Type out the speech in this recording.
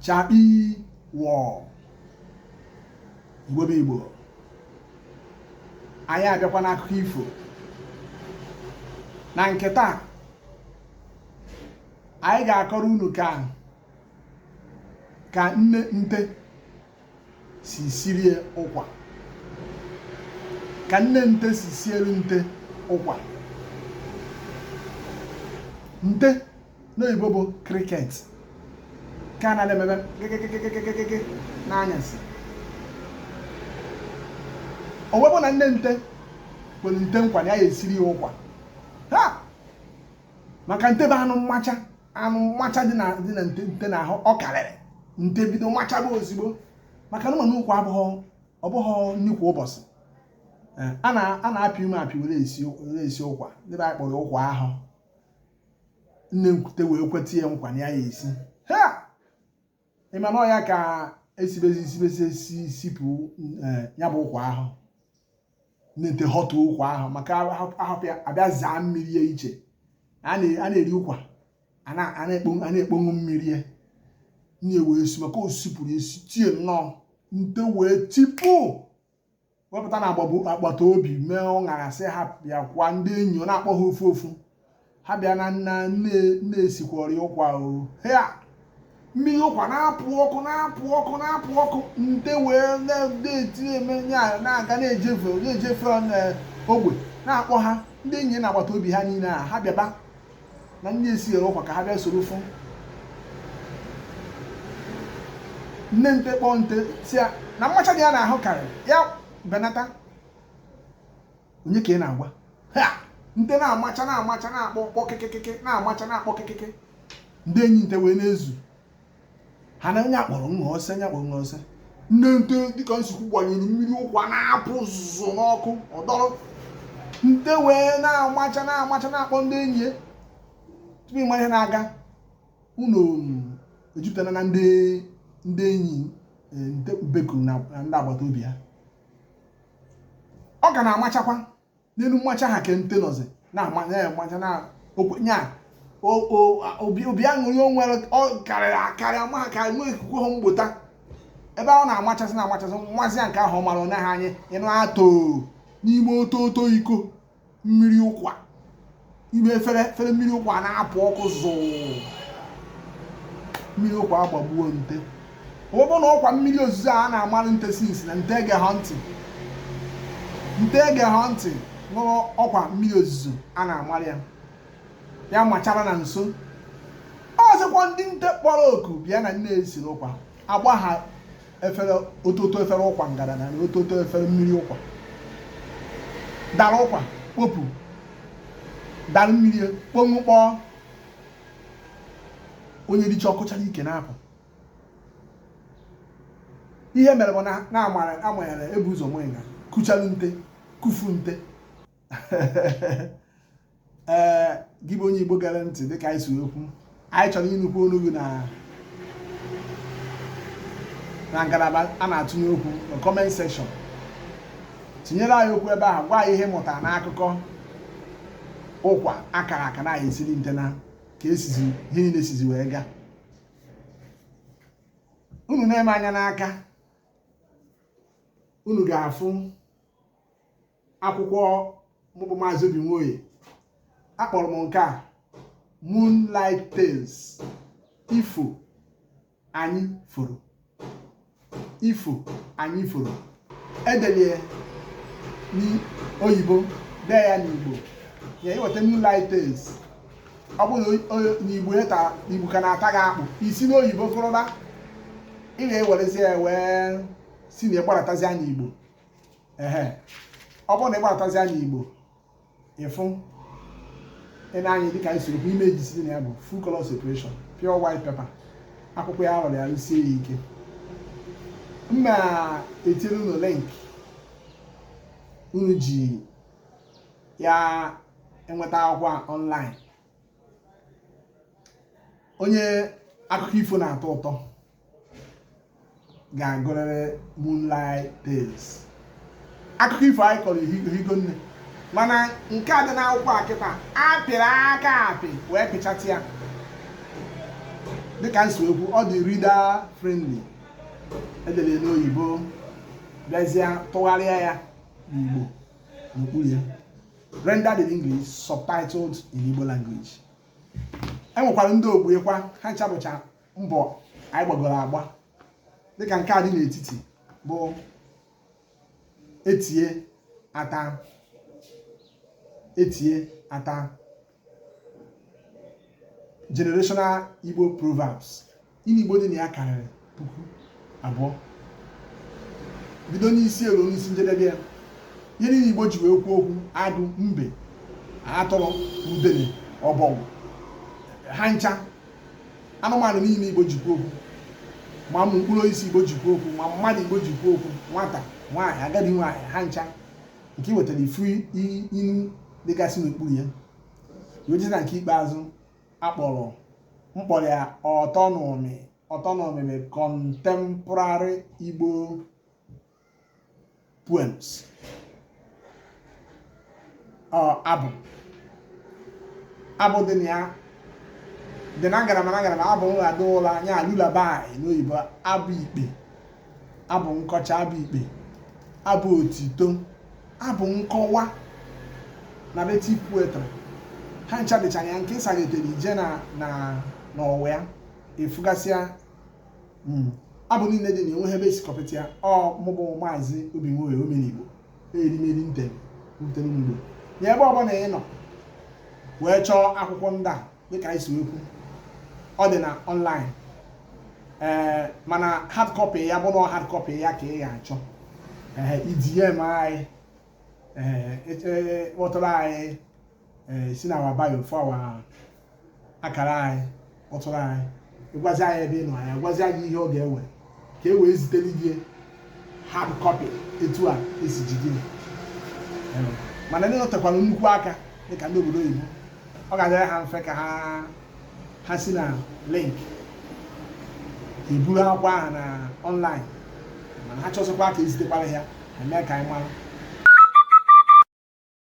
chakpi wọ igbo bụ igbo anyị abịakwa n'akụkọ ifo na nke taa anyị ga-akọrọ unu ka ka nne nte si sirie ụkwa ka nne nte si siere nte ụkwa nte n'oyibo bụ cricket ka a na-emebe kịkịkịkịkịkịkị n'anyasị o wee bụ na nne nte kwere nte nkwa na ya esiri ya ụkwa ha maka nte bụ anụ mmacha anụ mmacha dị na dị na nte nte n'ahụ ọ karịrị nte bido machaba ozigbo maka na ị manụ ụkwa abụghọ ọ bụghọ nnukwu ụbọchị Eh, a na a na-apị ume apị were esi were esi ụkwa ndị be anyị kpọrọ ụkwa ahụ nne nte wee kweta ya nkwa na ya ya esi ha ịma na ọ ya ka esibezi isibezi esi sipụ eh, ya bụ ụkwa ahụ nne nte họtụ ụkwa ahụ maka a họpụ ya a bịa zaa mmiri ya iche a na-eri ụkwa a na-ekpoṅụ mmiri ya nye wee si maka o sipụrụ esi tie nnọọ nte wee tipụ wee pụta na agbagbo agbata obi mee ụṅara sị ha bịakwa ndị enyi ọ na-akpọ ha ofu ofu ha bịa na nna nne nne esikwọrị ụkwa o hea mmiri ụkwa na-apụ ọkụ na-apụ ọkụ na-apụ ọkụ nte wee na-eti eme ya na-aga na-ejefe na-ejefe na ogbe na-akpọ ha ndị enyi na agbata obi ha niile a ha bịaba na nne esiere ụkwa ka ha bịa soro fụ nne nte kpọọ nte sị ya na mmacha dị ya n'ahụ karịrị ya benata onye ka ị na-agwa ha nte na-amacha na-amacha na-akpọ kpọ kịkịkịkị na-amacha na-akpọ kịkịkị ndị enyi nte wee na-ezu ha na nya kpọrọ nwa ọsọ nya kpọrọ nwa ọsọ nne nte dịka nsukwu gbanyere mmiri ụkwa na-apụ zụzụ n'ọkụ ọ dọrọ nte wee na-amacha na-amacha na-akpọ ndị enyi ya tupu ịma ihe na-aga ụnọ ejupụtara na ndị ndị enyi e, nte bekuru na na ndị agbata obi ya ọ ka na-amachakwa n'elu mmacha ha ka nte nọzi na-amacha ya amacha na okwenye a obi aṅụrị o nwere karịrị akarị ama ka nwe ikuku ha mgbota ebe ọ na-amachazi na-amachazi nwazi ya nke ahụ ọ mara onye ha anyị ịnụ atọ n'ime oto oto iko mmiri ụkwa ime efere mmiri ụkwa na-apụ ọkụ zụụ mmiri ụkwa agbagbuo nte ọ bụ na ọkwa mmiri ozuzo a na-amalụ nte since na nte ege ha ntị nte ege ha ntị nụrụ ọkwa mmiri ozuzo a na-amalụ ya ya machara na nso ọzọkwa ndị nte kpọrọ oku bịa na nne ya siri ụkwa agba ha otu otu efere ụkwa ngara na otu otu efere mmiri ụkwa dara ụkwa kpopu dara mmiri kponwu kpọọ onye richa ọ kụchara ike na-apụ ihe mere bụ na amanyere ebu ụzọ nwe nga kuchalu nte kufu nte ee gị bụ onye Igbo gere ntị dịka anyị si ekwu anyị chọrọ ịnụkwu olu gị na ngalaba a na-atụnye okwu na comment section tinyere anyị okwu ebe ahụ gwa anyị ihe ị mụtara n'akụkọ ụkwa akara aka nne ya siri nte na ka esizi ihe niile sizi wee gaa unu nee m anya n'aka unu ga-afụ akwụkwọ mụ bụ maazị obi nwoye akpọrọ m nke a moonlight tales ifo anyị foro edelie n'oyibo dee ya n'igbo ya i weta moonlight tales ọ bụrụ na igbo ka na-ata gị akpụ i si n'oyibo gụrụba ị ga-ewerezie ya wee si na ya gbaratazia n'igbo ehe ọ bụrụ na ị gbaratazia n'igbo ị fụ ya n'anya dịka anyị siri kwuo images dị na ya bụ full color separation pure white paper akwụkwọ ya a rụrụ ya rụsie ya ike m na-etiri unu link unu ji ya enweta akwụkwọ online onye akụkọ ifo na-atọ ụtọ ga-agụrịrị Moonlight Tales akụkọ ifo anyị kọrọ ehigo nne mana nke a dị n'akwụkwọ a kịta apịrị aka apị wee pịchatị ya dịka m si ekwu ọ dị reader friendly edere n'oyibo bịazie tụgharịa ya n'Igbo n'okpuru ya rendered in English subtitled in Igbo language enwekwara ndị ogbo ya kwa ha ncha bụcha mbọ anyị gbagoro agba dịka nke a dị n'etiti bụ etie ata etie ata generational Igbo proverbs inu Igbo dị na ya karịrị puku abụọ bido n'isi elu n'isi njedebe ya ihe niile igbo ji wee kwuo okwu agụ mbe atụrụ udene ọbọgwụ ha ncha anụmanụ niile igbo ji kwuo okwu ma ụmụ mkpụrụ osisi igbo ji kwuo okwu ma mmadụ igbo ji kwuo okwu nwata nwaanyị agadi nwaanyị ha ncha nke wetara ị fụ inu dịgasị n'okpuru ya wee jee na nke ikpeazụ akpọrọ m kpọrọ ya ọtọ n'ụmị ọtọ n'ụmị na contemporary Igbo poems abụ abụ dị na ya dị na ngalaba na ngalaba abụ nrado ụla nya lullaby n'oyibo abụ ikpe abụ nkọcha abụ ikpe abụ otito abụ nkọwa narrative poetry ha ncha dịcha na ya nke ị saghetere ị jee na na n'ọwa ya ị fụgasịa hmm, abụ niile dị na enweghị ebe e si kọpụta ya ọ mụ bụ maazị obi nwoye omenigbo erimeri nte nte n'ugbo na ebe ọbụla ị nọ wee chọọ akwụkwọ ndị a dịka anyị si ekwu ọ dị na ọnlaịn ee mana hard copy ya bụ na hard copy ya ka ị ga-achọ ee ị DM anyị ee kpọtụrụ anyị ee si na our bio fụ our akara anyị kpọtụrụ anyị ị gwazi anyị ebe ị nọ anyị agwazi gị ihe ọ ga-ewe ka e wee zitere gị hard copy etu a e si jide ya Ee, mana ndị nọtekwara nnukwu aka dịka ndị obodo oyibo ọ ga-adịrị ha mfe ka ha ha si na link eburu akwụkwọ ahụ na ọnlaịn mana ha chọzikwa ka e zitekwara ya ha mee ka anyị mara